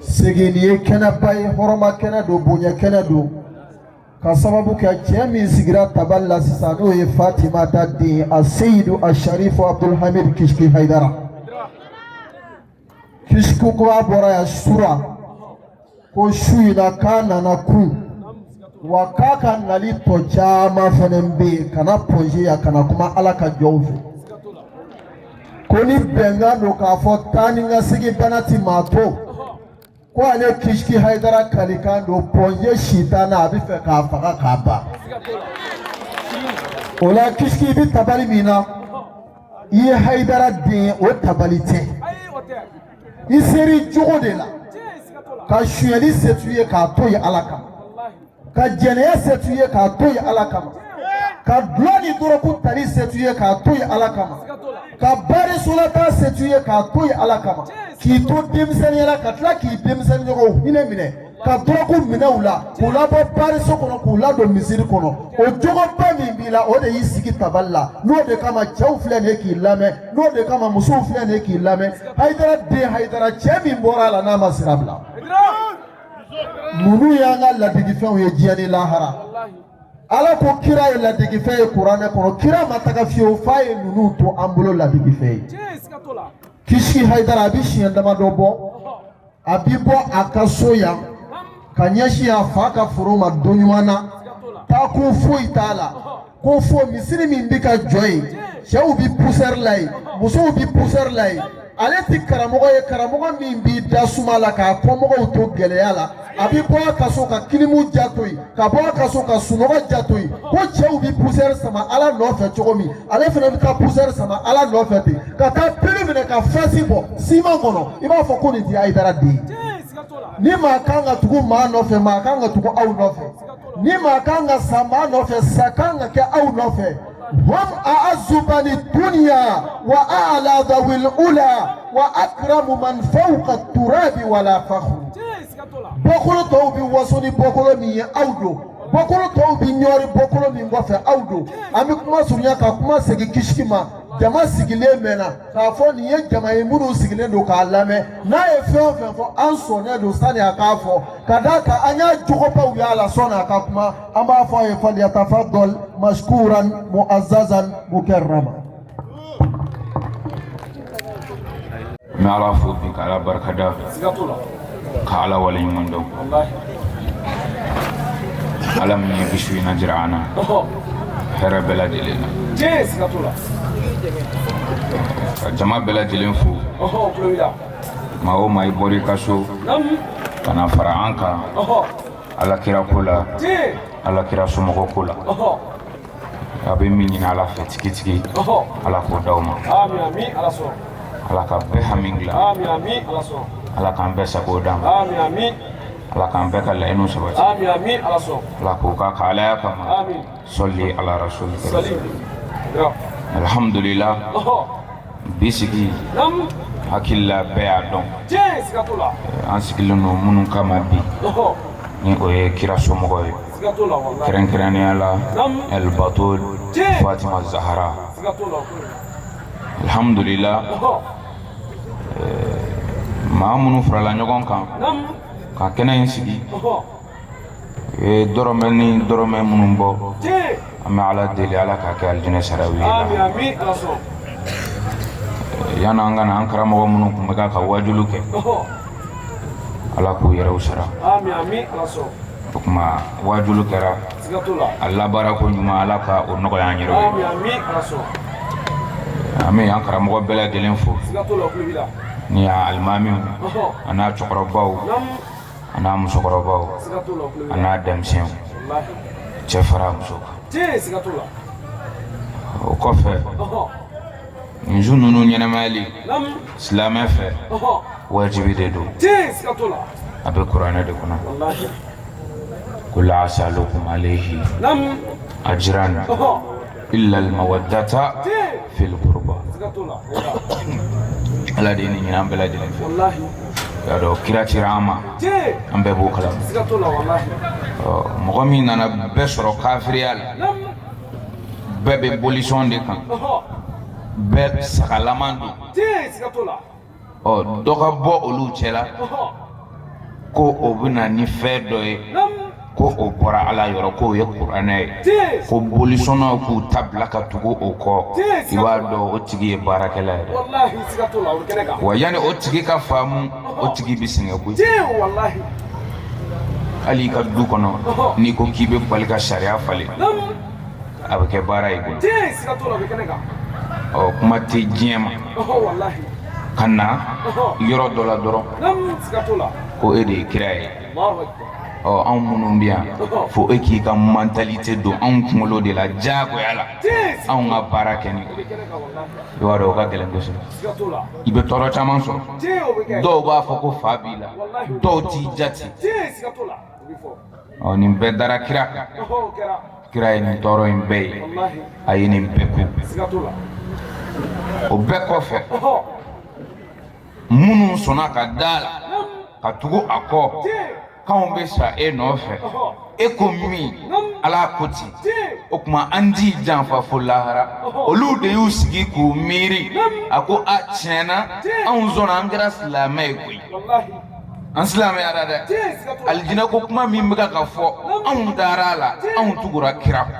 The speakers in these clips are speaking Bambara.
segin ye kɛnɛba ye hɔrɔma kɛnɛ don bonya kɛnɛ don ka sababu kɛ cɛ min sigira tabali la sisan n'o ye fatima ta den a seyidu a sharifo abdulhamid kisiki hayidara kisiki ko a bɔra yan sura ko su in na k'a nana ku wa k'a ka nali tɔ caman fana bɛ yen ka na pɔnze yan ka na kuma ala ka jɔnw fɛ ko ni bɛnkan don k'a fɔ taa ni ka segin bana ti maa to ko ale kisiki hayidara kalikan don pɔnze sitana a bɛ fɛ k'a faga k'a ban o la kisiki bɛ tabali min na i ye hayidara den o tabali tɛ i ser'i jogo de la ka sonyɛli se to i ye k'a to yen ala kama ka jɛnɛya se to i ye k'a to yen ala kama ka dulɔ ni dɔrɔku tali se to i ye k'a to yen ala kama ka baarisolataa se to i ye k'a to yen ala kama k'i to denmisɛnniya la ka tila k'i denmisɛnniɲɔgɔnw hinɛ minɛ ka dɔrɔku minɛ u la k'u labɔ baariso kɔnɔ k'u ladon misiri kɔnɔ o jogoba min b'i la o de y'i sigi tabali la n'o de kama cɛw filɛ nin ye k'i lamɛn n'o de kama musow filɛ nin ye k'i lamɛn hayidara den hayidara cɛ min bɔra a la n'a ma sira bila ninnu y'an ka ladigifɛnw ye diɲɛ ni lahara ala ko kira ye ladigifɛn ye kuranɛ kɔnɔ kira ma taga fiyewu f'a ye ninnu to an bolo ladigifɛn ye kisiki hayidara a bɛ siɲɛ damadɔ bɔ a bi bɔ a ka so yan ka ɲɛsin a fa ka foro ma don ɲuman na taa kun foyi t'a la ko fo misiri min bɛ ka jɔ yen cɛw bɛ pusɛri la yen musow bɛ pusɛri la yen ale ti karamɔgɔ ye karamɔgɔ min b'i da suma la k'a kɔmɔgɔw to gɛlɛya la a bɛ bɔ a ka so ka kilimu ja to yen ka bɔ a ka so ka sunɔgɔ ja to yen ko cɛw bɛ pusɛri sama ala nɔfɛ cogo min ale fana bɛ taa pusɛri sama ala nɔfɛ ten ka taa peli minɛ ka fasi bɔ siman kɔnɔ i b'a fɔ ko nin tɛ hayidara den ye ni maa kan ka tugu maa nɔfɛ maa kan ka tugu aw nɔfɛ ni maa kan ka sa maa nɔfɛ sa kan ka kɛ aw nɔfɛ hum a'azzu bani dunya wa a'la dhawil ula wa akramu man fawqa turabi wala fakhru bɔkolo tɔw bɛ waso ni bɔkolo min ye aw don bɔkolo tɔw bɛ ɲɔri bɔkolo min kɔfɛ aw don an bɛ kuma surunya ka kuma segin kisiki ma jama sigilen mɛnna k'a fɔ nin ye jama ye minnu sigilen don k'a lamɛn n'a ye fɛn o fɛn fɔ an sɔnnen don sani a k'a fɔ ka d'a kan an y'a jogobaw y'a la sɔni a ka kuma an b'a fɔ a ye falyatafaddal mashkuran mu'azzazan mukarrama n bɛ ala fo bi ka ala barikada ka ala waleɲuman dɔn ala min ye bisu in na jira an na hɛrɛ bɛɛ lajɛlen na ka jama bɛɛ lajɛlen fo maa o maa i bɔra i ka so ka na fara an kan ala kira ko la ala kira somɔgɔ ko la A bɛ min ɲini ala fɛ tigitigi ala k'o di aw ma ala ka bɛɛ hami dilan ala k'an bɛɛ sago d'an ma ala k'an bɛɛ ka laɲiniw sabati ala k'o k'a ka alaya kama sɔli ala rasul alihamdulila bi sigi hakilila bɛɛ y'a dɔn an sigilen don minnu kama bi ni o ye kira somɔgɔ ye kɛrɛnkɛrɛnnenya la ɛlibatul fatima zahara alhamdulila maa minnu farala ɲɔgɔn kan ka kɛnɛ in sigi ye dɔrɔmɛ ni dɔrɔmɛ minnu bɔ an bɛ ala deli ala k'a kɛ alijinɛ saraw ye yanni an ka na an karamɔgɔ minnu tun bɛ ka ka wajulu kɛ ala k'u yɛrɛw sara o tuma wajulu kɛra a labaara ko ɲuman ala ka o nɔgɔya an yɛrɛ ye an bɛ an karamɔgɔ bɛɛ lajɛlen fo ni y'a alimamiw a n'a cɛkɔrɔbaw a n'a musokɔrɔbaw a n'a denmisɛnw cɛ fara muso kan o kɔfɛ nin su ninnu ɲɛnamayali silamɛ fɛ wajibi de don a bɛ kuranɛ de kɔnɔ qul la asalukum alayhi ajran illal mawaddata fil qurba ala de ye nin ɲini an bɛɛ lajɛlen fɛ k'a dɔn kira cira an ma an bɛɛ b'o kalama mɔgɔ min nana bɛɛ sɔrɔ kafiriya la bɛɛ bɛ bolisɔn de kan bɛɛ sagalama don ɔ dɔ ka bɔ olu cɛ la ko o bɛ na ni fɛn dɔ ye ko o bɔra ala yɔrɔ k'o ye kuranɛ ye ko bolisɔnnaw k'u ta bila ka tugu o kɔ i b'a dɔn o tigi ye baarakɛla ye dɛ wa yanni o tigi ka faamu o tigi bɛ sɛgɛn koyi hali i ka du kɔnɔ n'i ko k'i bɛ bali ka sariya falen a bɛ kɛ baara ye koyi ɔ kuma tɛ diɲɛ ma ka na yɔrɔ dɔ la dɔrɔn ko e de ye kira ye ɔ anw minnu bɛ yan fo e k'i ka mentalité don anw kunkolo de la diyagoya la anw ka baara kɛ ni i b'a dɔn o ka gɛlɛn kosɛbɛ i bɛ tɔɔrɔ caman sɔrɔ dɔw b'a fɔ ko fa b'i la dɔw t'i jate ɔ nin bɛɛ dara kira kan kira ye nin tɔɔrɔ in bɛɛ ye a ye nin bɛɛ kun o bɛɛ kɔfɛ minnu sɔnna ka da a la ka tugu a kɔ k'anw bɛ sa e nɔfɛ e ko min ala ko ten o tuma an t'i janfa fo lahara olu de y'u sigi k'u miiri a ko a tiɲɛ na anw sɔnna an kɛra silamɛ ye koyi an silamɛyara dɛ alijinɛ ko kuma min bɛ ka fɔ anw dara a la anw tugura kira kɔ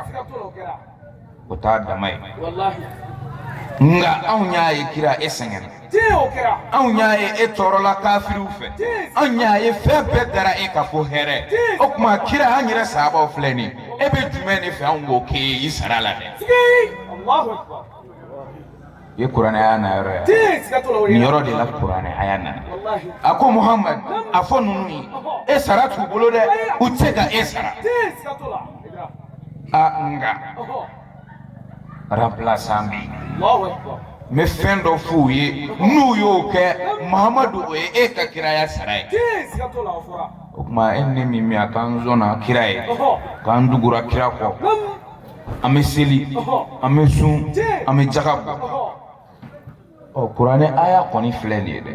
o t'a dama ye nka anw y'a ye kira e sɛgɛnna anw y'a ye e tɔɔrɔla kafiriw fɛ anw y'a ye fɛn bɛɛ dara e kan fo hɛrɛ o tuma kira an yɛrɛ sahabaw filɛ nin e bɛ jumɛn de fɛ anw k'o k'e ye i sara la dɛ ye kuranɛ aya na yɔrɔ ye nin yɔrɔ de la kuranɛ aya nana a ko muhamad a fɔ ninnu ye e sara t'u bolo dɛ u tɛ se ka e sara a nka remplaçant bɛ yen n bɛ fɛn dɔ f'u ye n'u y'o kɛ muhamadu o ye e ka kiraya sara ye o tuma e ni ne min bɛ yan k'an sɔnna kira ye k'an tugura kira kɔ an bɛ seli an bɛ sun an bɛ jaga bɔ ɔ kuranɛ aya kɔni filɛ nin ye dɛ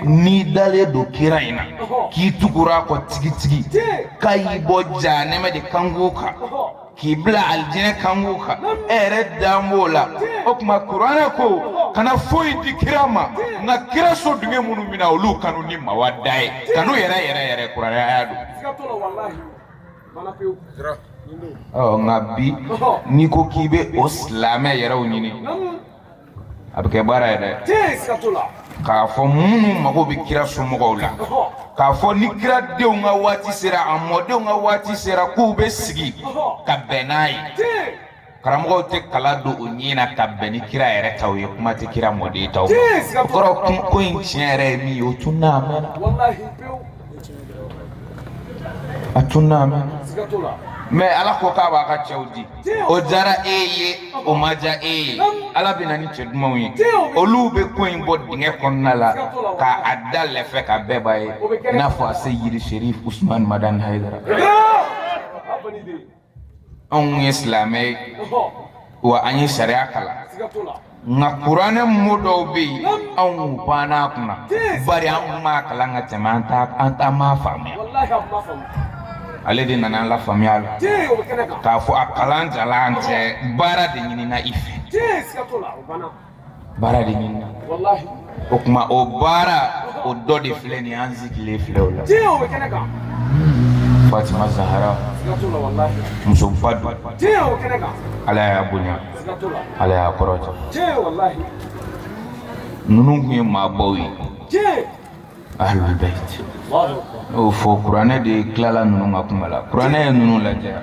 n'i dalen don kira in na k'i tugura a kɔ tigitigi k'a y'i bɔ janɛmɛ de kankun kan k'i bila alijinɛ kankun kan e yɛrɛ dan b'o la o tuma kuranɛ ko kana foyi di kira ma nka kira so dunge minnu bɛ na olu kanu ni mawada ye kanu yɛrɛ yɛrɛ yɛrɛ kuranɛ aya don. nka bi n'i ko k'i bɛ o silamɛ yɛrɛw ɲini a bɛ kɛ baara ye dɛ k'a fɔ minnu mago bɛ kira somɔgɔw la k'a fɔ ni kira denw ka waati sera a mɔdenw ka waati sera k'u bɛ sigi ka bɛn n'a ye karamɔgɔw tɛ kala don u ɲin na ka bɛn ni kira yɛrɛ taw ye kuma tɛ kira mɔden taw ma o kɔrɔ ko in tiɲɛ yɛrɛ ye min ye o tununna a mɛnna a tununna a mɛnna mɛ ala ko k'a b'a ka cɛw di o diyara e ye o ma diya e ye ala bɛ na ni cɛ dumanw ye olu bɛ ko in bɔ dingɛ kɔnɔna la ka a da lɛfɛ ka bɛɛ b'a ye i n'a fɔ aseyidi serif usumani madani hayidara anw ye silamɛ ye wa an ye sariya kalan nka kuranɛ mo dɔw bɛ yen anw banna a kunna bari an kun b'a kalan ka tɛmɛ an ta an ta ma faamuya ale de nana an lafaamuya la k'a fɔ a kalan jalan tɛ baara de ɲinina i fɛ baara de ɲinina o tuma o baara o dɔ de filɛ nin an sigilen filɛ o la fatima zahara musoba don ala y'a bonya ala y'a kɔrɔta ninnu tun ye maabaw ye ahlul bait n'o fɔ kuranɛ de tilala ninnu ka kuma la kuranɛ ye ninnu lajɛya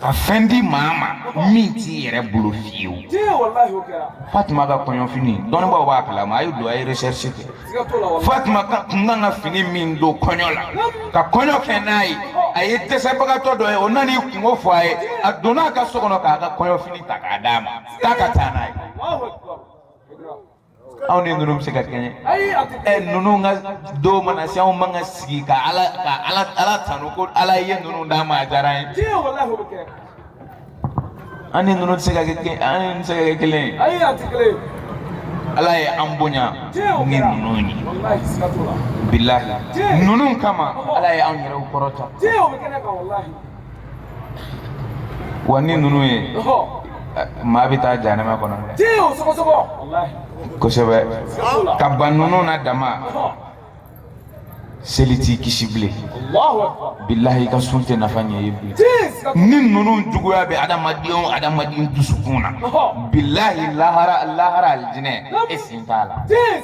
ka fɛn di maa ma min t'i yɛrɛ bolo fiyewu fatima ka kɔɲɔfini dɔnnibaaw b'a kalama a ye don a ye recherche kɛ fatima ka kun kan ka fini min don kɔɲɔ la ka kɔɲɔ kɛ n'a ye a ye dɛsɛbagatɔ dɔ ye o nana i kunko fɔ a ye a donna a ka so kɔnɔ k'a ka kɔɲɔfini ta k'a d'a ma k'a ka taa n'a ye anw ni ninnu bɛ se ka kɛɲɛ ɛ ninnu ka donw mana se anw man ka sigi ka ala ka ala ala tanu ko ala ye ninnu d'an ma a diyara an ye an ni ninnu tɛ se ka kɛ kelen an ni tɛ se ka kɛ kelen ye ala ye an bonya ni ninnu ye bilahi ninnu kama ala ye an yɛrɛw kɔrɔta wa ni ninnu ye maa bɛ taa jahanama kɔnɔ kosɛbɛ ka ban ninnu na dama seli t'i kisi bilen bilahi i ka sun tɛ nafa ɲɛ i ye bilen ni ninnu juguya bɛ adamadenw adamaden dusukun na bilahi lahara lahara alijinɛ e sen t'a la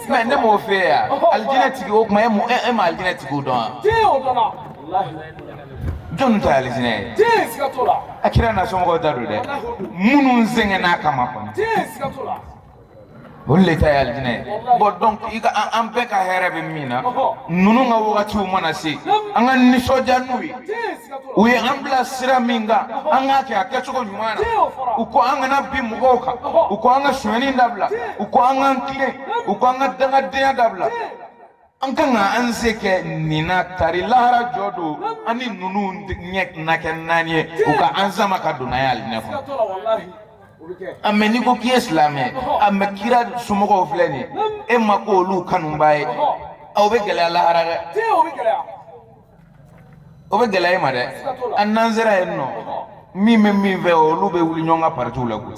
mɛ ne m'o fɛ yan alijinɛ tigi o tuma e ma alijinɛ tigiw dɔn wa Jɔn ta ye alijinɛ ye a kira n'a somɔgɔw ta don dɛ minnu sɛgɛnn'a kama kɔnɔ o le ta ye alijinɛ ye bɔn dɔnki ka an bɛɛ ka hɛrɛ bɛ min na ninnu ka wagatiw mana se an ka nisɔndiya n'u ye u ye an bila sira min kan an k'a kɛ a kɛcogo ɲuman na u ko an kana bin mɔgɔw kan u ko an ka sonyani dabila u ko an k'an tilen u ko an ka dangadenya dabila an kan ka an se kɛ nin na tari lahara jɔ don an ni ninnu ɲɛ na kɛ naani ye u ka an sama ka don n'an ye alijinɛ kɔnɔ a mɛ n'i ko k'i ye silamɛ a mɛ kira somɔgɔw filɛ nin ye e ma kɛ olu kanubaa ye a o bɛ gɛlɛya lahara dɛ o bɛ gɛlɛya e ma dɛ an n'an sera yen mɔgɔ min bɛ min fɛ olu bɛ wuli ɲɔgɔn ka partiw la koyi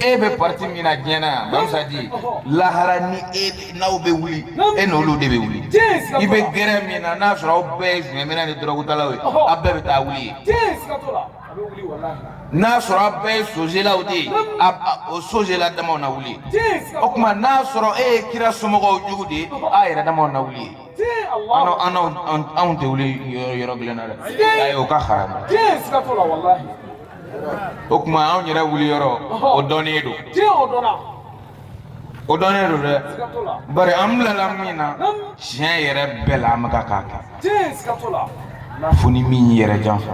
e bɛ parti min na diɲɛ na yan mana sa dɛ lahara ni e n'aw bɛ wuli e n'olu de bɛ wuli i bɛ gɛrɛ min na n'a sɔrɔ aw bɛɛ ye fɛnminna ni dɔrɔgutalaw ye aw bɛɛ bɛ taa wuli yen. n'a sɔrɔ a bɛɛ ye sozelaw de ye o sozela damaw na wuli o tuma n'a sɔrɔ e ye kira somɔgɔw jugu de ye a yɛrɛ damaw na wuli yen an anw tɛ wuli yɔrɔ kelen na dɛ ayi o ka haramu o tuma anw yɛrɛ wuli yɔrɔ o dɔnnen don o dɔnnen don dɛ bari an bilala min na tiɲɛ yɛrɛ bɛɛ la an bɛɛ kan k'a kɛ fo ni min yɛrɛ janfa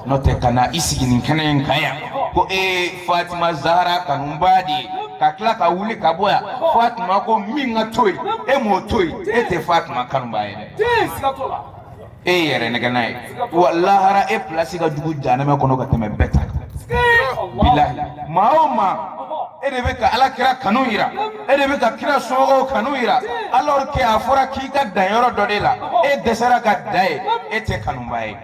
n'o tɛ ka na i sigi nin kɛnɛ in kan yan ko e ye fatima zahara kanubaa de ye ka tila ka wuli ka bɔ yan fatima ko min ka to yen e m'o to yen e tɛ fatima kanubaa ye dɛ e yɛrɛnɛgɛnna ye wa lahara e pilasi ka jugu janɛmɛ kɔnɔ ka tɛmɛ bɛɛ ta kan bilahi maa o maa e de bɛ ka ala kira kanu yira e de bɛ ka kira somɔgɔw kanu yira alors que a fɔra k'i ka dan yɔrɔ dɔ de la e dɛsɛra ka dan yen e tɛ kanubaa ye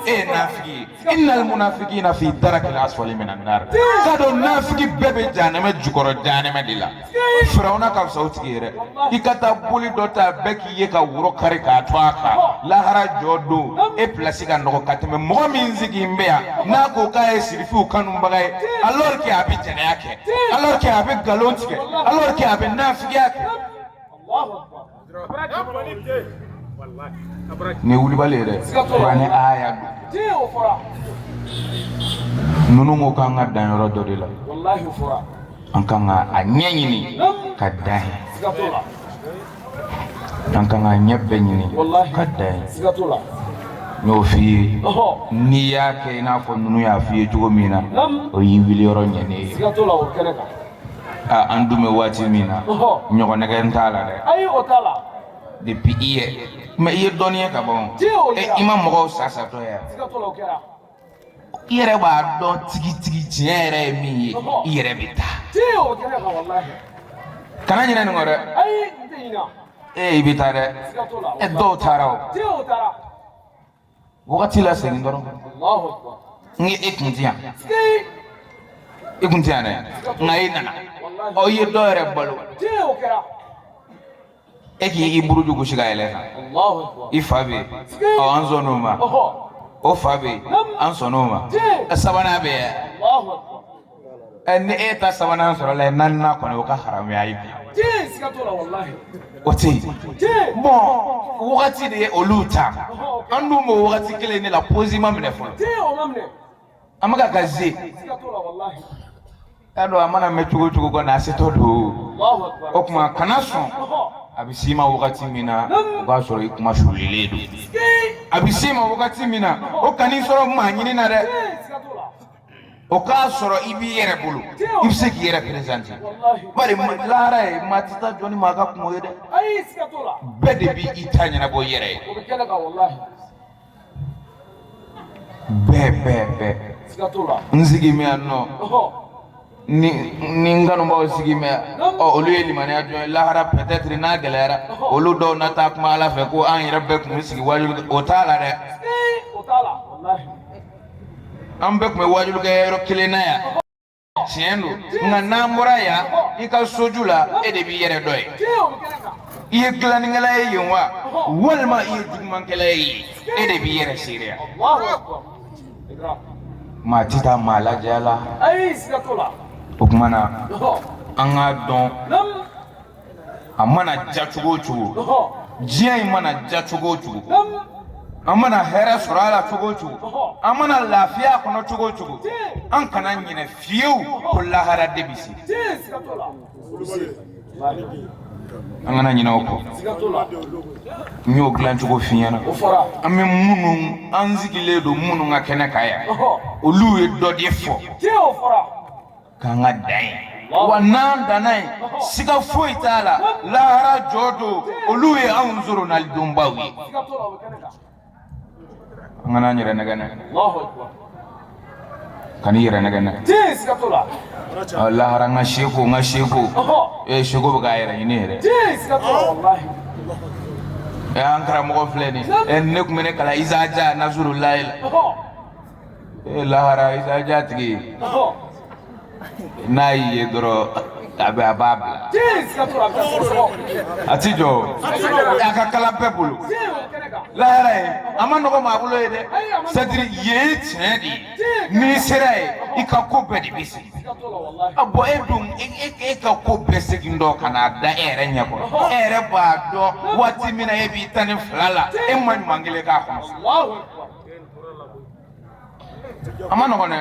e ye nafigi ye inal munafikina fi darakil asfali minan nar k'a dɔn nafigi bɛɛ bɛ jahanɛmɛ jukɔrɔ jahanɛmɛ de la firawuna ka fisa o tigi ye dɛ i ka taa boli dɔ ta bɛɛ k'i ye ka woro kari k'a tu a kan lahara jɔ don e pilasi ka nɔgɔn ka tɛmɛ mɔgɔ min sigilen bɛ yan n'a ko k'a ye sirifiw kanubaga ye alors que a bɛ jɛnɛya kɛ alors que a bɛ nkalon tigɛ alors que a bɛ nafigiya kɛ ni wulibali yɛrɛ kuranɛ ayaw ninnu ko k'an ka dan yɔrɔ dɔ de la an kan ka a ɲɛ ɲini ka dan yen an kan k'a ɲɛ bɛɛ ɲini ka dan yen n y'o f'i ye n'i y'a kɛ i n'a fɔ ninnu y'a f'i ye cogo min na o y'i wuli yɔrɔ ɲɛnen ye aa an dun bɛ waati min na ɲɔgɔn nɛgɛn t'a la dɛ ayi o t'a la depuis i ye mɛ i ye dɔnniya ka bon i ma mɔgɔw sa satɔ ye i yɛrɛ b'a dɔn tigitigi tiɲɛ yɛrɛ ye min ye i yɛrɛ bɛ taa kana ɲinɛ nin kɔ dɛ ee i bɛ taa dɛ dɔw taara o wagati la segin dɔrɔn n ye e kun ti yan e kun ti yan dɛ nka e nana ɔ i ye dɔ yɛrɛ balo e k'i i buruju gosi ka yɛlɛ kan i fa bɛ yen ɔ an sɔnn'o ma o fa bɛ yen an sɔnn'o ma sabanan bɛ yen ɛ ni e ta sabanan sɔrɔ la ye naaninan kɔni o ka haramuya ye bi o tɛ yen bɔn wagati de ye olu ta an dun b'o wagati kelen de la pozi ma minɛ fɔlɔ an bɛ ka ka ze y'a dɔn a mana mɛn cogo o cogo kɔni a setɔ don o tuma kana sɔn a bɛ s'i ma wagati min na o k'a sɔrɔ i kunmasulilen don a bɛ s'i ma wagati min na o kan'i sɔrɔ maa ɲini na dɛ o k'a sɔrɔ i b'i yɛrɛ bolo i bɛ se k'i yɛrɛ perezante bari lahara yen maa tɛ taa jɔ ni maa ka kunko ye dɛ bɛɛ de b'i ta ɲɛnabɔ i yɛrɛ ye bɛɛ bɛɛ bɛɛ n sigi mɛ yan nɔ ni ni n kanubaaw sigi mɛ ɔ olu ye limaniya jɔn ye lahara peut-être n'a gɛlɛyara olu dɔw na taa kuma ala fɛ ko an yɛrɛ bɛɛ tun bɛ sigi waajuli kɛ o t'a la dɛ an bɛɛ tun bɛ waajuli kɛ yɔrɔ kelen na yan tiɲɛ don nka n'an bɔra yan i ka soju la e de b'i yɛrɛ dɔn yen i ye dilannikɛla ye yen wa walima i ye jugumankɛla ye yen e de b'i yɛrɛ seereya maa tɛ taa maa lajɛya la o tuma na an k'a dɔn a mana ja cogo o cogo diɲɛ in mana ja cogo o cogo an mana hɛrɛ sɔrɔ a la cogo o cogo an mana lafiya a kɔnɔ cogo o cogo an kana ɲinɛ fiyewu ko lahara de bɛ se an kana ɲinɛ o kɔ n y'o dilan cogo f'i ɲɛ na an bɛ minnu an sigilen don minnu ka kɛnɛ kan yan olu ye dɔ de fɔ k'an ka dan yen wa n'an danna yen siga foyi t'a la lahara jɔ don olu ye anw soronalidonbaw ye n kana n yɛrɛ nɛgɛn dɛ kan'i yɛrɛ nɛgɛn dɛ lahara n ka seku n ka seku ee seku bɛ k'a yɛrɛ ɲini yɛrɛ ee an karamɔgɔ filɛ nin ye ne tun bɛ ne kalan Izaja Nasurulayi la ee lahara Izaja tigi n'a y'i ye dɔrɔn a bɛ a b'a bila a ti jɔ a ka kalan bɛɛ bolo lahara yen a ma nɔgɔ maa bolo yen dɛ sadiri yen ye tiɲɛ de ye n'i sera yen i ka ko bɛɛ de bɛ se a bɔ e dun e ka ko bɛɛ segin dɔ ka n'a da e yɛrɛ ɲɛ kɔrɔ e yɛrɛ b'a dɔn waati min na e b'i tan ni fila la e ma ɲuman kelen k'a kɔnɔ a man nɔgɔn dɛ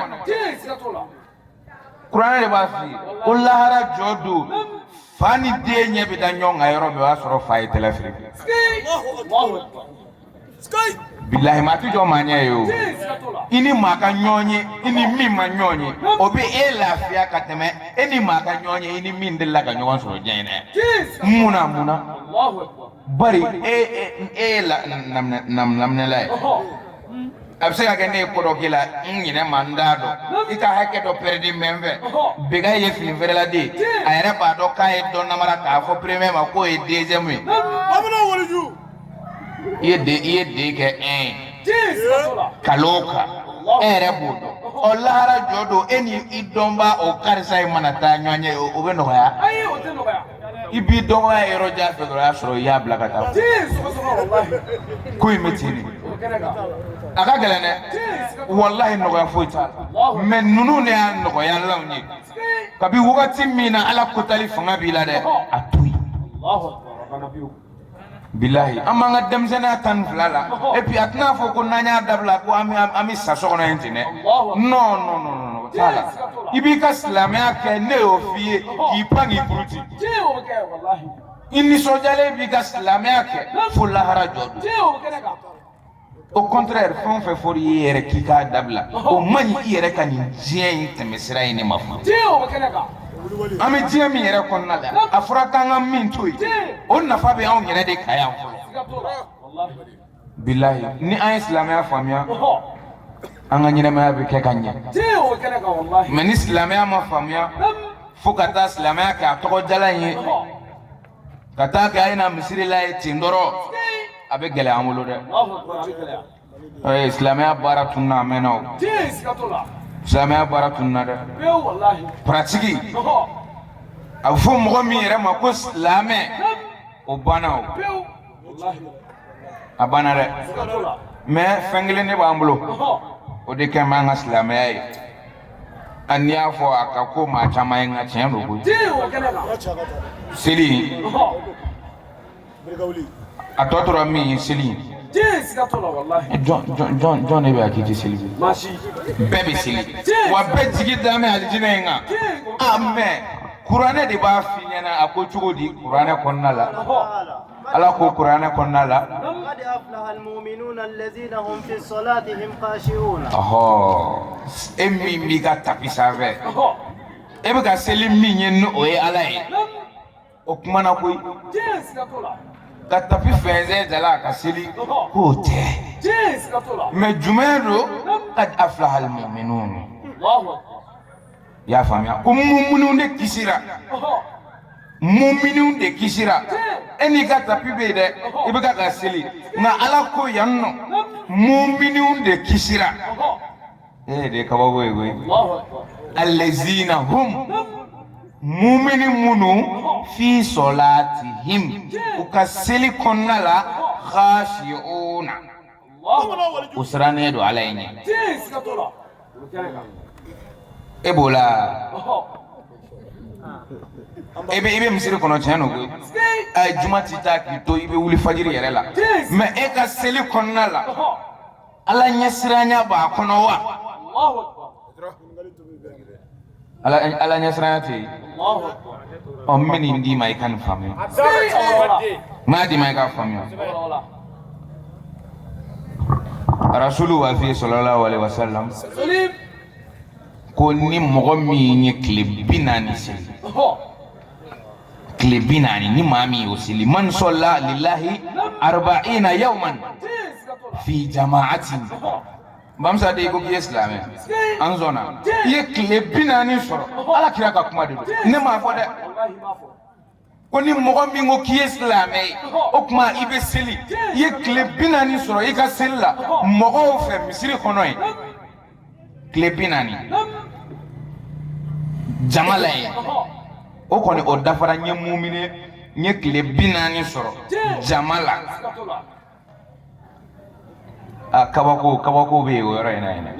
kuranɛ de b'a f'i ye ko lahara jɔ don fa ni den ɲɛ bɛ da ɲɔgɔn kan yɔrɔ min o y'a sɔrɔ fa ye tɛlɛ firi bilahi maa ti jɔ maa ɲɛ yen o i ni maa ka ɲɔgɔn ye i ni min ma ɲɔgɔn ye o bɛ e lafiya ka tɛmɛ e ni maa ka ɲɔgɔn ye i ni min delila ka ɲɔgɔn sɔrɔ diɲɛ in na mun na mun na bari e ye laminɛla ye a bɛ se ka kɛ ne ye ko dɔ k'i la n ɲinɛ ma n t'a dɔn i ka hakɛ dɔ pɛrɛdilen bɛ n fɛ bɛ kɛ i ye fini feerela de ye a yɛrɛ b'a dɔn k'a ye dɔ namara k'a fɔ premier ma k'o ye deuxième ye i ye deux i ye deux kɛ un ye nkalon kan e yɛrɛ b'o dɔn ɔ lahara jɔ don e ni i dɔnbaa o karisa in mana taa ɲɔgɔn ye o bɛ nɔgɔya i b'i dɔgɔya yɔrɔ jan fɛ dɔrɔn y'a sɔrɔ i y'a bila ka taa ko in bɛ ten de a ka gɛlɛn dɛ walahi nɔgɔya foyi t'a la mɛ ninnu de y'a nɔgɔyalanw ye kabi wagati min na ala ko tali fanga b'i la dɛ a to yen Bilayi an b'an ka denmisɛnninya tan ni fila la et puis a tɛna fɔ ko n'an y'a dabila ko an bɛ an bɛ sa so kɔnɔ yen ten dɛ non non non non o t'a la i b'i ka silamɛya kɛ ne y'o f'i ye k'i pan k'i puruti i nisɔndiyalen b'i ka silamɛya kɛ fo lahara jɔ don. au contraire fɛn o fɛn fɔra i ye yɛrɛ k'i k'a dabila o man ɲi i yɛrɛ ka nin diɲɛ in tɛmɛ sira ye ne m'a fɔ an bɛ diɲɛ min yɛrɛ kɔnɔna la a fɔra k'an ka min to yen o nafa bɛ anw yɛrɛ de kan yan fɔlɔ bilayi ni an ye silamɛya faamuya an ka ɲɛnamaya bɛ kɛ ka ɲɛ mɛ ni silamɛya ma faamuya fo ka taa silamɛya kɛ a tɔgɔ jalan ye ka taa kɛ a yera misiri la ye ten dɔrɔn a bɛ gɛlɛya an bolo dɛ ee silamɛya baara tununa a mɛnna o silamɛya baara tununa dɛ paratigi a bɛ fɔ mɔgɔ min yɛrɛ ma ko silamɛ o banna o a banna dɛ mɛ fɛn kelen de b'an bolo o de kɛlen bɛ an ka silamɛya ye a n'i y'a fɔ a ka ko maa caman ye nka tiɲɛ don koyi seli a tɔ tora min ye seli jɔn de bɛ yan k'i tɛ seli bɛɛ bɛ seli wa bɛɛ jigi dalen bɛ alijinɛ in kan a mɛ kuranɛ de b'a f'i ɲɛna a ko cogo di kuranɛ kɔnɔna la ala ko kuranɛ kɔnɔna la e min b'i ka tapi sanfɛ e bɛ ka seli min ye ni o ye ala ye o kumana koyi ka tapi fɛnsɛn dala ka seli k'o tɛ mɛ jumɛn don kad afilahal muminun i y'a faamuya ko muminun de kisira muminun de kisira e n'i ka tapi bɛ yen dɛ i bɛ ka ka seli nka ala ko yan nɔ muminun de kisira e de ye kabako ye koyi alezina hum mumini minnu fi sɔlatihim u ka seli kɔnɔna la khashi'una u sirannen don ala ye ɲɛ e b'o la i bɛ misiri kɔnɔ tiɲɛ don koyi ayi juma ti taa k'i to i bɛ wuli fajiri yɛrɛ la mɛ e ka seli kɔnɔna la ala ɲɛsiranya b'a kɔnɔ wa ala ɲɛsiranya tɛ yen ɔ n bɛ nin d'i ma i ka nin faamuya n b'a d'i ma i k'a faamuya rasulu b'a f'i ye sɔlalahu aleyhi wasalam ko ni mɔgɔ min ye tile bi naani seli tile bi naani ni maa min y'o seli man sɔla lilahi arba'ina yawman fi jama'atin Bamusa de ko k'i ye silamɛ an sɔnna i ye tile bi naani sɔrɔ ala kira ka kuma de don ne m'a fɔ dɛ ko ni mɔgɔ min ko k'i ye silamɛ ye o tuma i bɛ seli i ye tile bi naani sɔrɔ i ka seli la mɔgɔw fɛ misiri kɔnɔ yen tile bi naani jama la yen o kɔni o dafara n ye mumini n ye tile bi naani sɔrɔ jama la a kabako kabako bɛ yen o yɔrɔ in na yen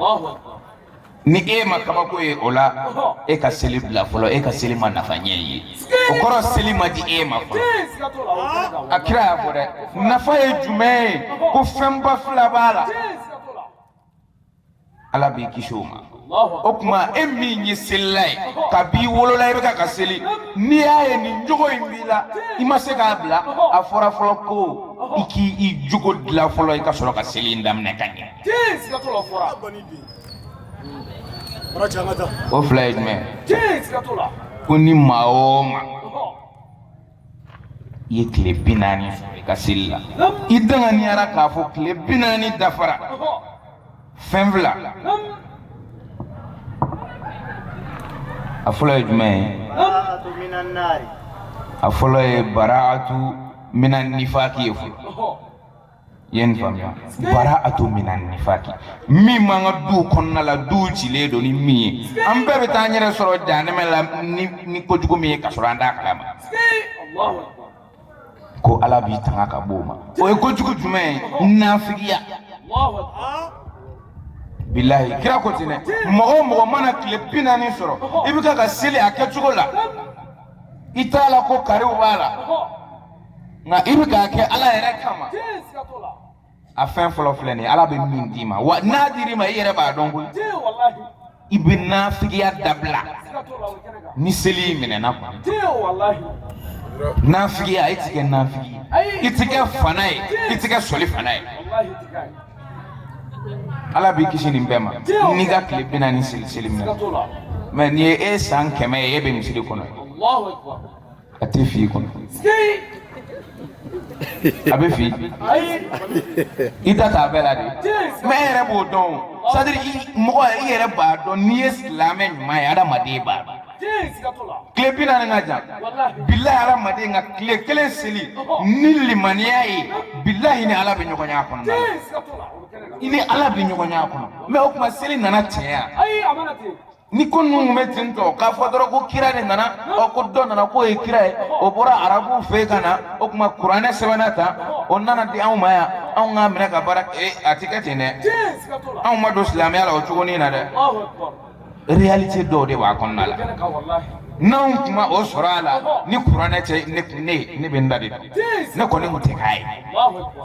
ni e ma kabako ye o la e ka seli bila fɔlɔ e ka seli ma nafa ɲɛ i ye o kɔrɔ seli ma di e ma fɔlɔ a kira y'a fɔ dɛ nafa ye jumɛn ye ko fɛnba fila b'a la ala b'i kisi o ma o tuma e min ye selila ye kab'i wolola i bɛ ka ka seli n'i y'a ye nin jogo in b'i la i ma se k'a bila a fɔra fɔlɔ ko i k'i jogo dilan fɔlɔ i ka sɔrɔ ka seli in daminɛ ka ɲɛ o fila ye jumɛn ko ni maa o maa i ye tile bi naani sɔrɔ i ka seli la i danganiyara k'a fɔ tile bi naani dafara fɛn fila a fɔlɔ ye jumɛn ye a fɔlɔ ye baraatu mina nifaki ye fɔlɔ ye nin faamuya baraatu mina nifaki min b'an ka du kɔnɔna la du cilen don ni min ye an bɛɛ bɛ taa an yɛrɛ sɔrɔ jahanɛmɛ la ni kojugu min ye ka sɔrɔ an t'a kalama ko ala b'i tanga ka b'o ma o ye kojugu jumɛn ye nafigiya bilahi kira ko ten dɛ mɔgɔ o mɔgɔ mana tile bi naani sɔrɔ i bɛ ka ka seli a kɛcogo la i t'a la ko kariw b'a la nka i bɛ k'a kɛ ala yɛrɛ kama a fɛn fɔlɔ filɛ nin ye ala bɛ min d'i ma wa n'a dir'i ma i yɛrɛ b'a dɔn koyi i bɛ nafigiya dabila ni seli minɛna walahi nafigiya i ti kɛ nafigi ye i ti kɛ fana ye i ti kɛ sɔli fana ye ala b'i kisi nin bɛɛ ma n'i ka tile bi naani seli minɛna mɛ nin ye e san kɛmɛ ye e bɛ misiri kɔnɔ a tɛ fili kɔnɔ a bɛ fili i da t'a bɛɛ la de mɛ e yɛrɛ b'o dɔn c'est-à-dire mɔgɔ i yɛrɛ b'a dɔn n'i ye silamɛ ɲuman ye adamaden b'a dɔn tile bi naani ka jan bilahi adamaden ka tile kelen seli ni limaniya ye bilahi i ni ala bɛ ɲɔgɔn y'a kɔnɔ i ni ala bɛ ɲɔgɔn y'a kɔnɔ mɛ o tuma seli nana tiɲɛ yan ni ko ninnu tun bɛ ten tɔ k'a fɔ dɔrɔn ko kira de nana ɔ ko dɔ nana k'o ye kira ye o bɔra arabuw fɛ ka na o tuma kuranɛ sɛbɛnna tan o nana di anw ma yan anw k'a minɛ ka baara ee a ti kɛ ten dɛ anw ma don silamɛya la o cogonin na dɛ réalité dɔw de b'a kɔnɔna la n'anw tun ma o sɔrɔ a la ni kuranɛ tɛ ne tun ne ne bɛ n da de don ne kɔni tun tɛ k'a ye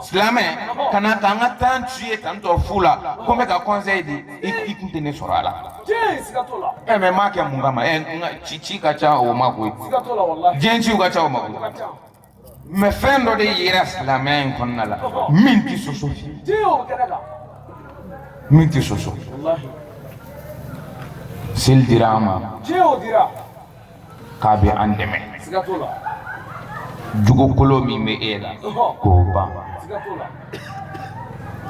silamɛ ka na ka n ka temps tuer tantɔ fu la ko n bɛ ka conseil di i kun tɛ ne sɔrɔ a la ɛ mɛ m'a kɛ mun kama ɛ ci ci ka ca o ma koyi diɲɛ ciw ka ca o ma koyi mɛ fɛn dɔ de yera silamɛya in kɔnɔna la min tɛ sɔsɔ min tɛ sɔsɔ seli dira an ma k'a bɛ an dɛmɛ jogokolon min bɛ e la k'o ban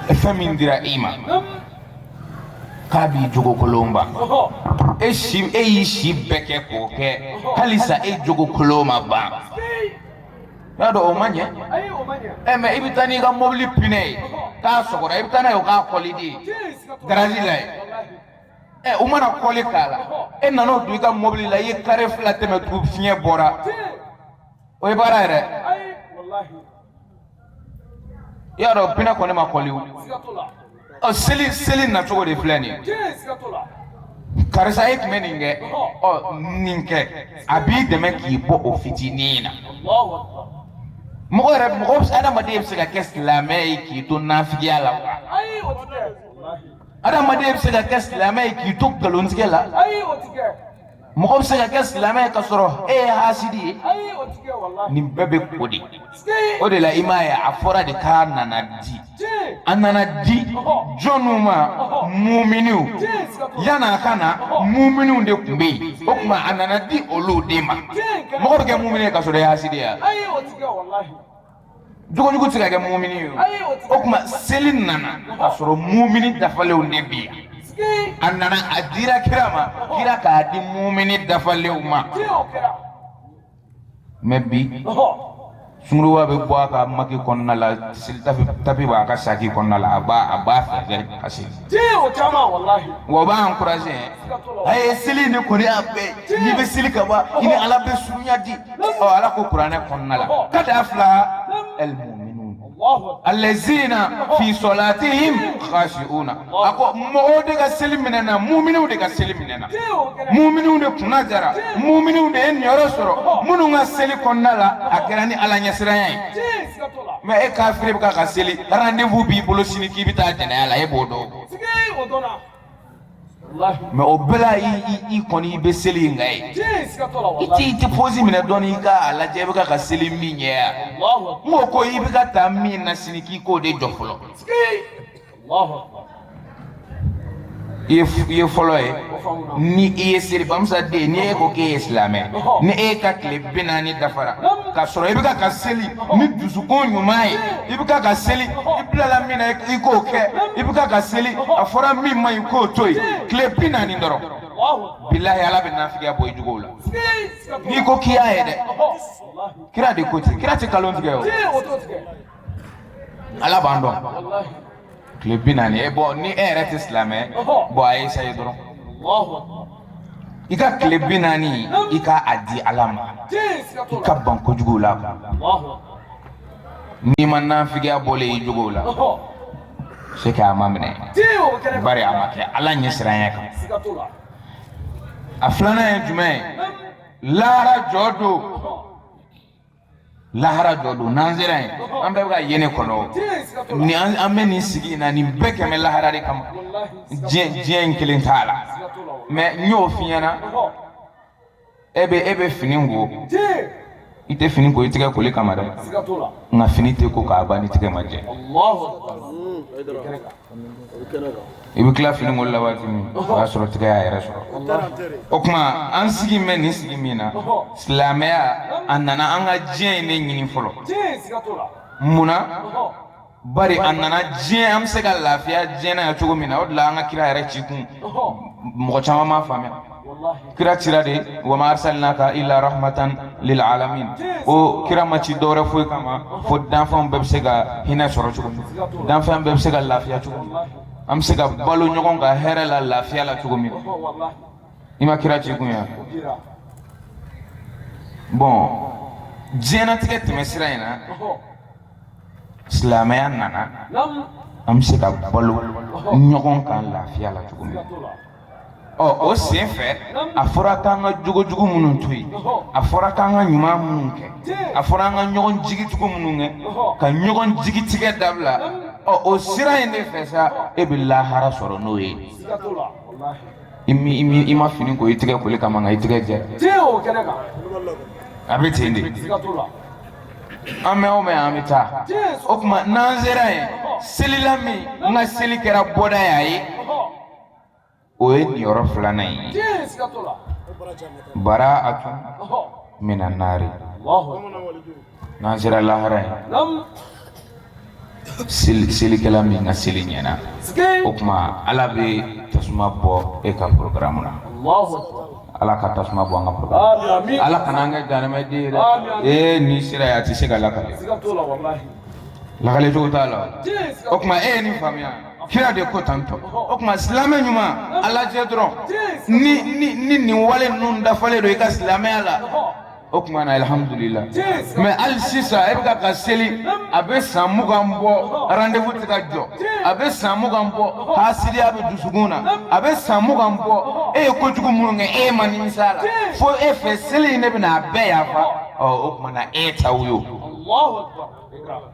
e fɛn min dira i ma k'a b'i jogokolon ban e si e y'i si bɛɛ kɛ k'o kɛ halisa e jogokolon ma ban y'a dɔn o ma ɲɛ ɛ mɛ i bɛ taa n'i ka mobili pinɛ ye k'a sɔgɔra i bɛ taa n'a ye o k'a kɔli de garazi la yen ɛ u mana kɔli k'a la e nana o don i ka mɔbili la i ye kare fila tɛmɛ tugun fiɲɛ bɔra o ye baara yɛrɛ i y'a dɔn pinɛ kɔni ma kɔli ɔ seli seli nacogo de filɛ nin ye karisa e tun bɛ nin kɛ ɔ nin kɛ a b'i dɛmɛ k'i bɔ o fitinin na mɔgɔ yɛrɛ mɔgɔ adamaden bɛ se ka kɛ silamɛ ye k'i to nafigiya la wa adamaden bɛ se ka kɛ silamɛ ye k'i to nkalontigɛ la ayi o tɛ kɛ mɔgɔ bɛ se ka kɛ silamɛ ye ka sɔrɔ e ye hasidi ye ayi o tɛ kɛ walahi nin bɛɛ bɛ ko de o de la i m'a ye a fɔra de k'a nana di a nana di jɔnniw ma muminiw yan'a ka na muminiw de tun bɛ yen o tuma a nana di olu de ma mɔgɔ bɛ kɛ mumini ye ka sɔrɔ e ye hasidi ye wa ayi o tɛ kɛ walahi jogojugu tɛ se ka kɛ mumini ye o tuma seli nana k'a sɔrɔ mumini dafalenw de bɛ yan a nana a dira kira ma kira k'a di mumini dafalenw ma mais bi sunguruba bɛ bɔ a ka maki kɔnɔna la seli tapi b'a ka saki kɔnɔna la a b'a a b'a fɛ ka seli Tiɲɛ o caman walahi o b'a encourager hein siga t'o la walahi a ye seli ni kɔni y'a bɛɛ ye n'i bɛ seli ka ban i ni Ala bɛ surunya di ɔ Ala ko kuranɛ kɔnɔna la qad aflaha al-mu'minun Alahu akbar allazina fi salatihim khashi'una a ko mɔgɔw de ka seli minɛna mu'miniw de ka seli minɛna Tiɲɛ o kɛra mu'miniw de kunna diyara mu'miniw de ye niyɔrɔ sɔrɔ minnu ka seli kɔnɔna la a kɛra ni Ala ɲɛsiranya ye Tiɲɛ mɛ e kafiri bɛ ka ka seli rendez-vous b'i bolo sini k'i bɛ taa jɛnɛya la e b'o dɔn mɛ o bɛɛ la i kɔni i bɛ seli nka ye i t'i tɛ pɔsi minɛ dɔɔni i ka a lajɛ i bɛ ka ka seli min ɲɛ yan n ko ko i bɛ ka taa min na sini k'i k'o de jɔ fɔlɔ ye f- ye fɔlɔ ye ni i ye selibamisa den ye, ni e ko k'e ye silamɛ ni e ka tile bi naani dafara ka sɔrɔ i bɛ ka ka seli ni dusukun ɲuman ye i bɛ ka ka seli i bilala min na i k'o kɛ i bɛ ka ka seli a fɔra min man ɲi k'o to yen tile bi naani dɔrɔn bilahi ala bɛ nafigiya bɔ i jogow la n'i ko k'i y'a ye dɛ kira de ko ten kira tɛ kalon tigɛ o ala b'an dɔn tile bi naani e bɔn ni e yɛrɛ tɛ silamɛ bɔn a essayer dɔrɔn i ka tile bi naani i ka a di ala ma i ka ban kojugu la n'i ma nafigiya bɔlen i jogow la c'est que a ma minɛ bari a ma kɛ ala ɲɛ siranya kan a filanan ye jumɛn ye lahara jɔ don lahara dɔ don n'an sera yen an bɛɛ bɛ ka yen ne kɔnɔ ni an bɛ nin sigi in na nin bɛɛ kɛ bɛ lahara de kama diɲɛ diɲɛ in kelen t'a la mɛ n y'o f'i ɲɛna e bɛ e bɛ fini ko i tɛ fini ko i tɛgɛ koli kama dɛ nka fini tɛ ko k'a ban n'i tɛgɛ ma jɛ i bɛ tila fini ko la waati min o y'a sɔrɔ tigɛ y'a yɛrɛ sɔrɔ o tuma an sigi bɛ nin sigi min na silamɛya a nana an ka diɲɛ in ne ɲini fɔlɔ mun na bari a nana diɲɛ an bɛ se ka lafiya diɲɛ na cogo min na o de la an ka kira yɛrɛ ci kun mɔgɔ caman m'a faamuya kira cira de wa ma arsalnaka illa rahmatan lil alamin o kira ma ci dɔwɛrɛ foyi kama fo danfɛnw bɛɛ bɛ se ka hinɛ sɔrɔ cogo min danfɛn bɛɛ bɛ se ka lafiya cogo min an bɛ se ka balo ɲɔgɔn kan hɛrɛ la lafiya la cogo min i ma kira ci kun ye bɔn diɲɛnatigɛ tɛmɛsira in na silamɛya nana an bɛ se ka balo ɲɔgɔn kan lafiya la cogo min ɔ o sen fɛ a fɔra k'an ka jogojugu minnu to yen a fɔra k'an ka ɲuman minnu kɛ a fɔra an ka ɲɔgɔn jigitugu minnu kɛ ka ɲɔgɔn jigitigɛ dabila ɔ o sira in de fɛ sa e bɛ lahara sɔrɔ n'o ye i mi i mi i ma fini ko i tɛgɛ koli kama nka i tɛgɛ jɛ a bɛ ten de an bɛ o mɛn an bɛ taa o tuma n'an sera yen selila min n ka seli kɛra bɔda ye a ye o ye nin yɔrɔ filanan in ye bara'atu minan naari n'an sera lahara yen selikɛla min ka seli ɲɛna o tuma ala bɛ tasuma bɔ e ka porokaramu na ala ka tasuma bɔ an ka poro ala kana an kɛ jahanamaden ye dɛ ee n'i sera yen a tɛ se ka lakale lakale cogo t'a la o tuma e ye nin faamuya kira de ko tan ɔ o tuma silamɛ ɲuman a lajɛ dɔrɔn ni ni ni nin wale ninnu dafalen don i ka silamɛya la o tuma na alihamudulila mɛ hali sisan e bɛ ka ka seli a bɛ san mugan bɔ rendez-vous tɛ ka jɔ a bɛ san mugan bɔ hasidiya bɛ dusukun na a bɛ san mugan bɔ e ye kojugu minnu kɛ e ma nimisa a la fo e fɛ seli in ne bɛna a bɛɛ yafa ɔ o tuma na e ta wo ye o.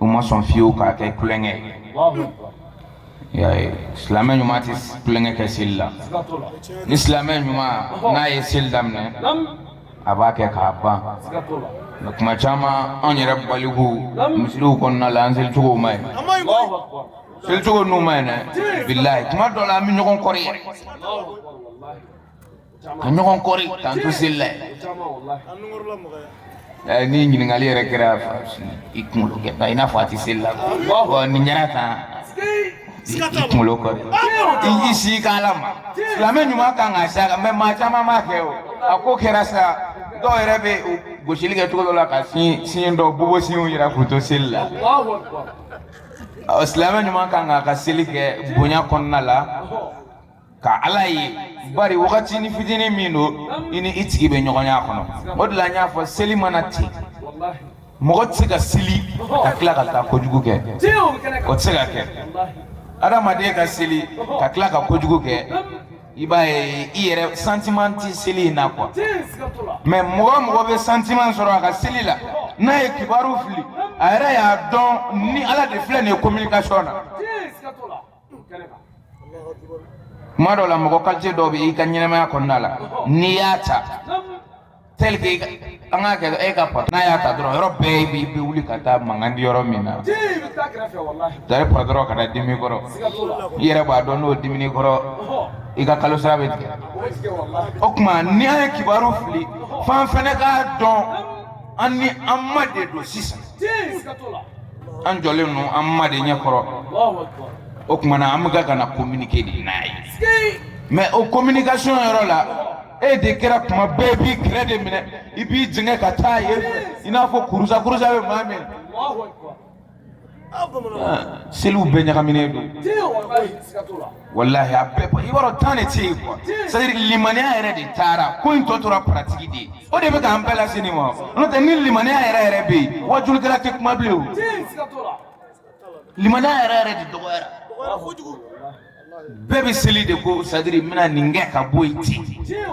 u ma sɔn fiyewu k'a kɛ tulonkɛ ye silamɛ ɲuman tɛ tulonkɛ kɛ seli la ni silamɛ ɲuman n'a ye seli daminɛ a b'a kɛ k'a ban mɛ tuma caman anw yɛrɛ baliku misiriw kɔnɔna la an selicogo man ɲi selicogo ninnu man ɲi dɛ bilayi tuma dɔ la an bɛ ɲɔgɔn kɔrɔ yɛrɛ ka ɲɔgɔn kɔri k'an to seli la yen ni ɲininkali yɛrɛ kɛra i kunkolo kɛ ba i n'a fɔ a tɛ seli la bɔn nin kɛra tan i kunkolo kɔri i y'i si k'a la ma silamɛ ɲuman kan k'a s'a kan mɛ maa caman b'a kɛ o a ko kɛra sa dɔw yɛrɛ bɛ gosili kɛ cogo dɔ la ka siɲɛ dɔ bobo siɲɛw yira k'u to seli la silamɛ ɲuman ka kan ka seli kɛ bonya kɔnɔna la ka ala ye bari wagati ni fitinin min don i ni i tigi bɛ ɲɔgɔn y'a kɔnɔ o de la n y'a fɔ seli ma na ten mɔgɔ tɛ se ka seli ka tila ka taa kojugu kɛ o tɛ se ka kɛ adamaden ka seli ka tila ka kojugu kɛ i b'a ye i yɛrɛ santiman tɛ seli in na kuwa mɛ mɔgɔ o mɔgɔ bɛ santiman sɔrɔ a ka seli la n'a ye kibaru fili a yɛrɛ y'a dɔn ni ala de filɛ nin ye kominikasɔn na tuma dɔ la mɔgɔ kalite dɔw bɛ i ka ɲɛnamaya kɔnɔna la n'i y'a ta tel que an k'a kɛ e ka patron n'a y'a ta dɔrɔn yɔrɔ bɛɛ i b'i wuli ka taa mankan tɛ yɔrɔ min na tari patron ka taa dimi i kɔrɔ i yɛrɛ b'a dɔn n'o dimina i kɔrɔ i ka kalo sara bɛ tigɛ o tuma ni an ye kibaru fili f'an fana k'a dɔn an ni an ma de don sisan an jɔlen don an ma de ɲɛkɔrɔ o tuma na an bɛ ka ka na communiquer de n'a ye mais o communication yɔrɔ la e de kɛra tuma bɛɛ b'i kɛrɛ de minɛ i b'i jɛngɛ ka taa yen fɛ i n'a fɔ kurusa kurusa bɛ maa min seliw bɛɛ ɲagaminen don walahi a bɛɛ i b'a dɔn tan de tɛ yen quoi c'est à dire limaniya yɛrɛ de taara ko in tɔ tora pratique de ye o de bɛ k'an bɛɛ lase nin ma n'o tɛ ni limaniya yɛrɛ yɛrɛ bɛ yen wajulikɛla tɛ kuma bilen o limaniya yɛrɛ yɛrɛ de dɔgɔyara bɛɛ bɛ seli de quoi c'est à dire n bɛna nin kɛ ka bɔ yen ten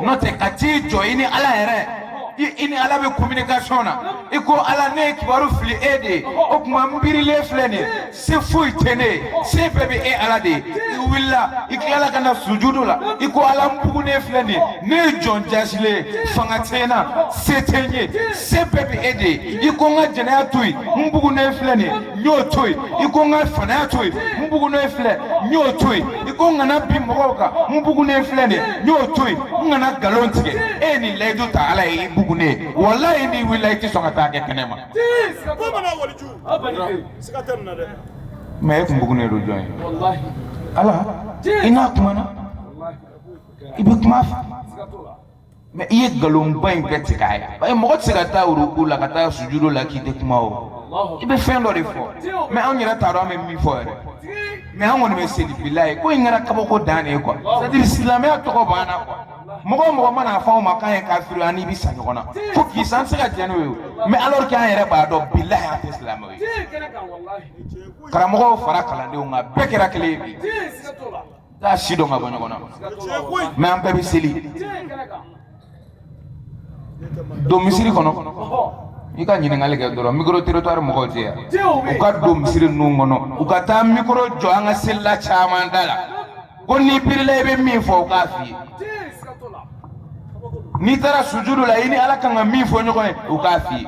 n'o tɛ ka t'i jɔ i ni ala yɛrɛ i ni ala bɛ communication na i ko ala ne ye kibaru fili e de ye o tuma n birilen filɛ nin ye se foyi tɛ ne ye se bɛɛ bɛ e ala de ye i wulila i tilala ka na sujudu la i ko ala n bugunen filɛ nin ye ne ye jɔn jasilen ye fanga tɛ n na se tɛ n ye se bɛɛ bɛ e de ye i ko n ka jɛnɛya to yen n bugunen filɛ nin ye n y'o to yen i ko n ka fanaya to yen n bugunen filɛ n y'o to yen i ko n kana bin mɔgɔw kan n bugunen filɛ nin n y'o to yen n kana nkalon tigɛ e ye nin layidu ta ala ye i bugunen ye walayi n'i wulila i tɛ sɔn ka t'a kɛ kɛnɛ ma mɛ e tun bugunen don jɔn ye ala i n'a kumana i bɛ kuma fɛ mɛ i ye nkalonba in bɛɛ tigɛ a ye paseke mɔgɔ tɛ se ka taa uruku la ka taa sujudu la k'i tɛ kuma o i bɛ fɛn dɔ de fɔ mɛ anw yɛrɛ t'a dɔn an bɛ min fɔ yɛrɛ mɛ an kɔni bɛ seli bilahi ko in kɛra kabako dan de ye kuwa sadiri silamɛya tɔgɔ b'an na kuwa mɔgɔ mɔgɔ man'a fɔ anw ma k'an ye kafiri an n'i bɛ sa ɲɔgɔn na fo k'i san se ka jɛn n'o ye mɛ alors que an yɛrɛ b'a dɔn bilahi an tɛ silamɛw ye karamɔgɔw fara kalandenw kan bɛɛ kɛra kelen ye bi t'a si dɔn ka bɔ ɲɔgɔn na mɛ an bɛɛ bɛ seli don misiri kɔnɔ i ka ɲininkali kɛ dɔrɔn mikoro territoire mɔgɔw tɛ yan u ka don misiri ninnu kɔnɔ u ka taa mikoro jɔ an ka selila caman da la ko n'i birila i bɛ min fɔ u k'a f'i ye n'i taara sujudu la i ni ala kan ka min fɔ ɲɔgɔn ye u k'a f'i ye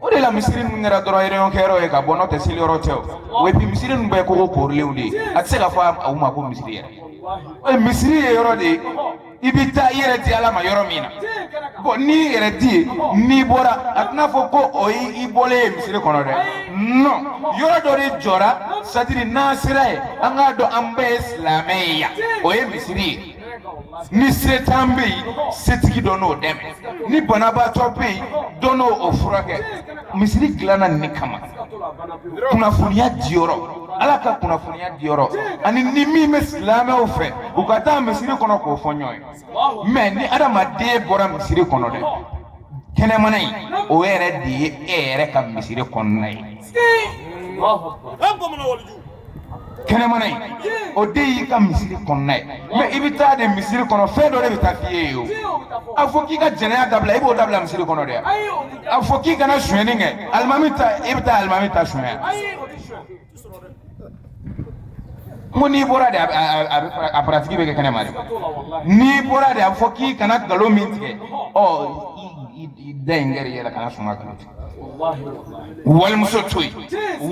o de la misiri ninnu kɛra dɔrɔn ereyɔn kɛyɔrɔ ye ka bɔ n'o tɛ seliyɔrɔ tɛ o epi misiri ninnu bɛɛ kogo koorilenw de ye a tɛ se ka fɔ a ma ko misiri yɛrɛ o ye misiri ye yɔrɔ de ye i bɛ taa i yɛrɛ di ala ma yɔrɔ min na bɔn n'i yɛrɛ di yen n'i bɔra a tɛna fɔ ko o ye i bɔlen ye misiri kɔnɔ dɛ non yɔrɔ dɔ de jɔra sadiri n'an sera yen an k'a dɔn an bɛɛ ye silamɛ ye yan o ye misiri ye ni setan bɛ yen setigi dɔ n'o dɛmɛ ni banabaatɔ bɛ yen dɔ n'o furakɛ misiri dilanna nin kama kunnafoniya diyɔrɔ ala ka kunnafoniya diyɔrɔ ani ni min bɛ silamɛw fɛ u ka taa misiri kɔnɔ k'o fɔ ɲɔgɔn ye mɛ ni adamaden bɔra misiri kɔnɔ dɛ kɛnɛmana in o yɛrɛ de ye e yɛrɛ ka misiri kɔnɔna ye kɛnɛmana in o de y'i ka misiri kɔnɔna ye mɛ i bɛ taa de misiri kɔnɔ fɛn dɔ de bɛ taa f'i ye o a fɔ k'i ka jɛnɛya dabila i b'o dabila misiri kɔnɔ dɛ a fɔ k'i kana sonyɛni kɛ alimami ta i bɛ taa alimami ta sonyɛ n ko n'i bɔra de a paratigi bɛ kɛ kɛnɛma de n'i bɔra de a fɔ k'i kana nkalon min tigɛ ɔ i da in kɛra i yɛrɛ kana sɔn ka nkalon tigɛ wali muso to yen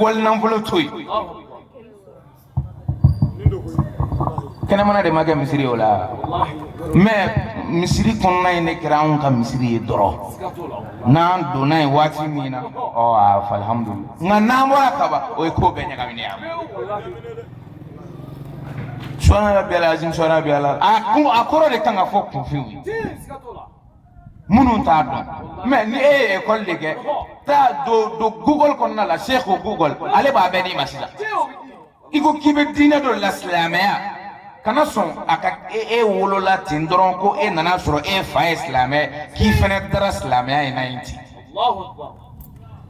wali nanfolo to yen kɛnɛmana de ma kɛ misiri ye o la mɛ misiri kɔnɔna in de kɛra anw ka misiri ye dɔrɔn n'an donna yen waati min na ɔ a fɔ alihamudulilayi nka n'an bɔra kaban o ye ko bɛɛ ɲagaminen ye subhana rabbiyal azim subhana rabbiyal ala a kɔrɔ de kan ka fɔ kunfinw ye minnu t'a dɔn mɛ ni e ye ekɔli de kɛ taa don don google kɔnɔna la sɛki google ale b'a bɛɛ d'i ma sisan i ko k'i bɛ diinɛ dɔ la silamɛya kana sɔn a ka e e wolola ten dɔrɔn ko e nana sɔrɔ e fa ye silamɛ k'i fana taara silamɛya in na yen ten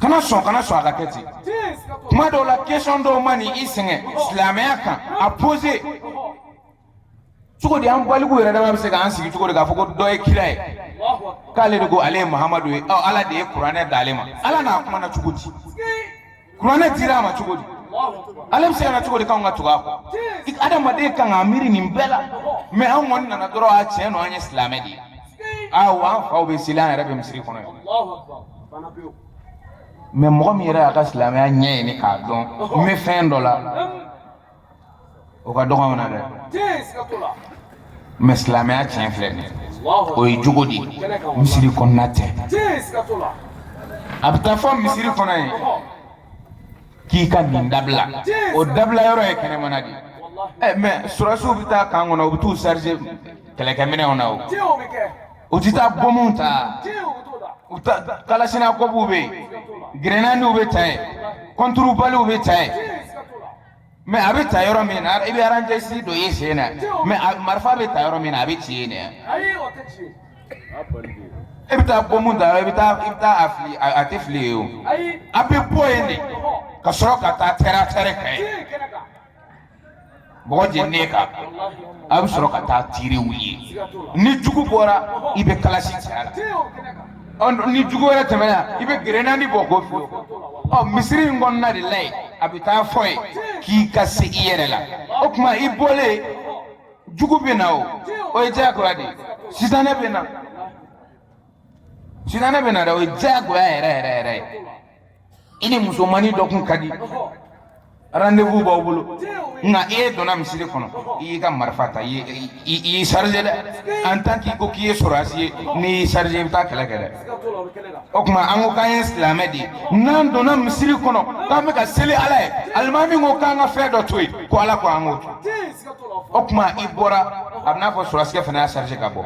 kana sɔn kana sɔn a ka kɛ ten kuma dɔw la kesɔn dɔw man'i sɛgɛn silamɛya kan a pose cogo di an baliku yɛrɛ dama bɛ se k'an sigi cogo di k'a fɔ ko dɔ ye kira ye k'ale de ko ale ye muhamadu ye ɔ ala de ye kuranɛ d'ale ma ala n'a kumana cogo di kuranɛ dira a ma cogo di ale bɛ se ka na cogo di k'anw ka tugu a kɔ adamaden kan k'a miiri nin bɛɛ la mais an kɔni nana dɔrɔn a tiɲɛ don an ye silamɛ de ye aa wa an faw bɛ seli an yɛrɛ bɛ misiri kɔnɔ yan mais mɔgɔ min yɛrɛ y'a ka silamɛya ɲɛ ɲini k'a dɔn n bɛ fɛn dɔ la o ka dɔgɔ an na dɛ mais silamɛya tiɲɛ filɛ nin o ye jogo de misiri kɔnɔna tɛ a bɛ t'a fɔ misiri kɔnɔ yen k'i ka nin dabila o dabila yɔrɔ ye kɛnɛmana de ye mais sɔrɔsiw bɛ taa kan kɔnɔ u bɛ t'u charger kɛlɛkɛminɛnw na o u tɛ taa bɔnmu ta u ta kalasinakɔbuw bɛ yen gerenadiw bɛ ta yen kɔnturubaliw bɛ ta yen mais a bɛ ta yɔrɔ min na i bɛ aranjɛsi don i sen na mais marifa bɛ ta yɔrɔ min na a bɛ ci yen dɛ e bɛ taa bɔnmu ta i bɛ taa i bɛ taa a fili a tɛ fili yen o a bɛ bɔ yen de ka sɔrɔ ka taa tɛrɛn tɛrɛn kan yen mɔgɔ jeni kan a bɛ sɔrɔ ka taa tiriw ye ni jugu bɔra i bɛ kalasi ci a la ni jugu wɛrɛ tɛmɛna i bɛ gerenadi bɔ k'o fili ɔ misiri in kɔnɔna de la yen a bɛ t'a fɔ yen k'i ka se i yɛrɛ la o tuma i bɔlen jugu bɛ na o o ye diyagoya de ye sitanɛ bɛ na sitanɛ bɛ na dɛ o ye diyagoya yɛrɛ yɛrɛ yɛrɛ ye i ni musomannin dɔ kun ka di rendez-vous b'aw bolo nka e donna misiri kɔnɔ i y'i ka marifa ta i y'i chargé dɛ en tant k'i ko k'i ye sɔrɔdasi ye n'i y'i chargé i bɛ taa kɛlɛ kɛ dɛ o tuma an ko k'an ye silamɛ de ye n'an donna misiri kɔnɔ k'an bɛ ka seli ala ye alimami ko k'an ka fɛn dɔ to yen ko ala ko an k'o to o tuma i bɔra a bɛ n'a fɔ sɔrɔsikɛ fana y'a chargé ka bɔ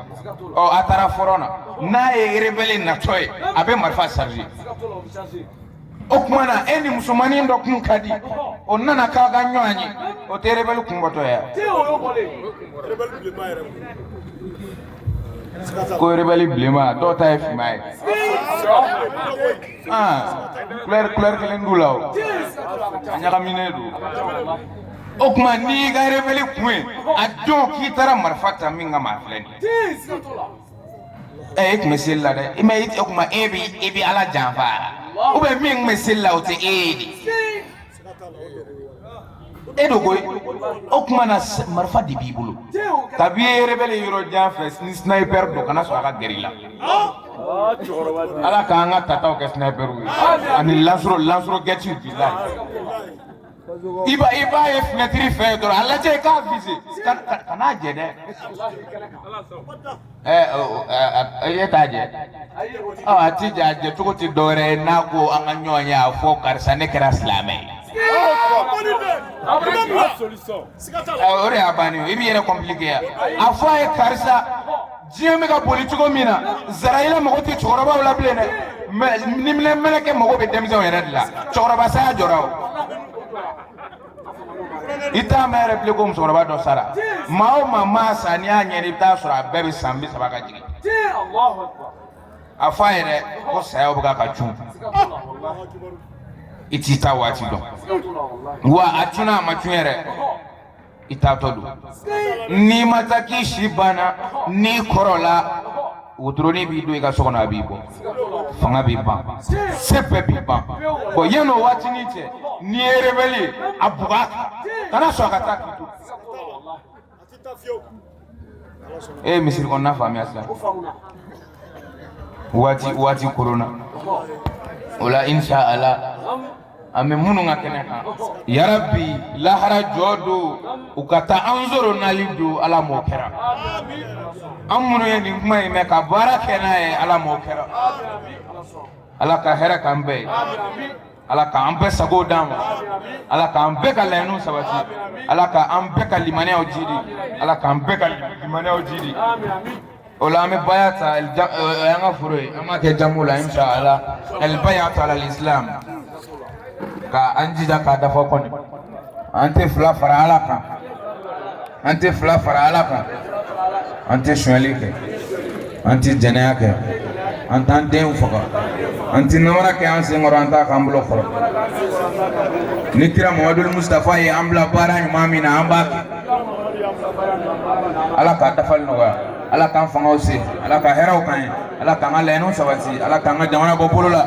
ɔ a taara fɔrɔn na n'a ye rebelle natɔ ye a bɛ marifa chargé o tuma na e ni musomannin dɔ kun ka di o nana k'aw ka ɲɔgɔn ye o tɛ rebelle kun bɔtɔ ye ko rebelle bilenma dɔw ta ye finman ye ah couleur couleur kelen t'u la o a ɲagaminen don o tuma n'i y'i ka rebelle kun ye a dɔn k'i taara marifa ta min kama a filɛ nin ye ɛ e kun bɛ seli la dɛ mais o kuma e bi e bi ala janfa ou bien min kun bɛ seli la o tɛ e ye dɛ e don koyi o kuma na marifa de b'i bolo kabi e ye rebelle ye yɔrɔ jan fɛ ni sniper don kana sɔn a ka gɛrɛ i la ala k'an ka tataw kɛ sniper ye ani lansɔrɔ lansɔrɔkɛtiw bilahi i b'a i b'a ye fenɛtiri fɛ dɔrɔn a lajɛ i k'a vise kan'a jɛ dɛ ɛ ɔ, ɛ, ɛ, e t'a jɛ ɔ a ti jɛ a jɛ cogo ti dɔwɛrɛ ye n'a ko an ka ɲɔgɔn ye a fɔ karisa ne kɛra silamɛ ye Ɔ, o de y'a bannen ye i b'i yɛrɛ kɔnpilike yan a fɔ a ye karisa diɲɛ bɛ ka boli cogo min na zarayila mago tɛ cɛkɔrɔbaw la bilen dɛ niminɛ mɛlɛkɛ mago bɛ denmisɛnw yɛrɛ de la cɛkɔrɔba saya jɔra o i t'a mɛn yɛrɛ bilen ko musokɔrɔba dɔ sara maa o maa maa sa n'i y'a ɲɛɲini i bɛ t'a sɔrɔ a bɛɛ bɛ san bi saba ka jigin a fɔ a yɛrɛ ko saya bɛ ka ka cun i t'i ta waati dɔn wa a cunna a ma cun yɛrɛ i taatɔ don n'i ma taa k'i si banna n'i kɔrɔla wotoroni b'i don i ka so kɔnɔ a b'i bɔ fanga b'i ban se bɛɛ b'i ban bɔ yan o waatinin cɛ n'i ye rebɛli ye a bugɔ a kan kana sɔn a ka taa k'i to e ye misiri kɔnɔna faamuya sisan waati waati koronna o la insha Allah an bɛ minnu ka kɛnɛ kan yarabi lahara jɔ don u ka taa an sɔrɔ nali don ala m'o kɛra an minnu ye nin kuma in mɛn ka baara kɛ n'a ye ala m'o kɛra ala ka hɛrɛ k'an bɛɛ ye ala k'an bɛɛ sago d'an ma ala k'an bɛɛ ka laɲiniw sabati ala k'an bɛɛ ka limaniyaw jidi ala k'an bɛɛ ka limaniyaw jidi o la an bɛ baya ta an ka foro ye an b'a kɛ jamu la insha ala ɛlibayata ala islam ka an jija k'a dafa kɔni an tɛ fila fara ala kan an tɛ fila fara ala kan an tɛ sonyali kɛ an tɛ jɛnɛya kɛ an t'an denw faga an tɛ namara kɛ an sen kɔrɔ an t'a k'an bolo kɔrɔ ni kira mamadul mustafa ye an bila baara ɲuman min na an b'a kɛ ala k'a dafali nɔgɔya ala k'an fangaw se ala ka hɛrɛw k'an ye ala k'an ka laɲiniw sabati ala k'an ka jamana bɔ bolo la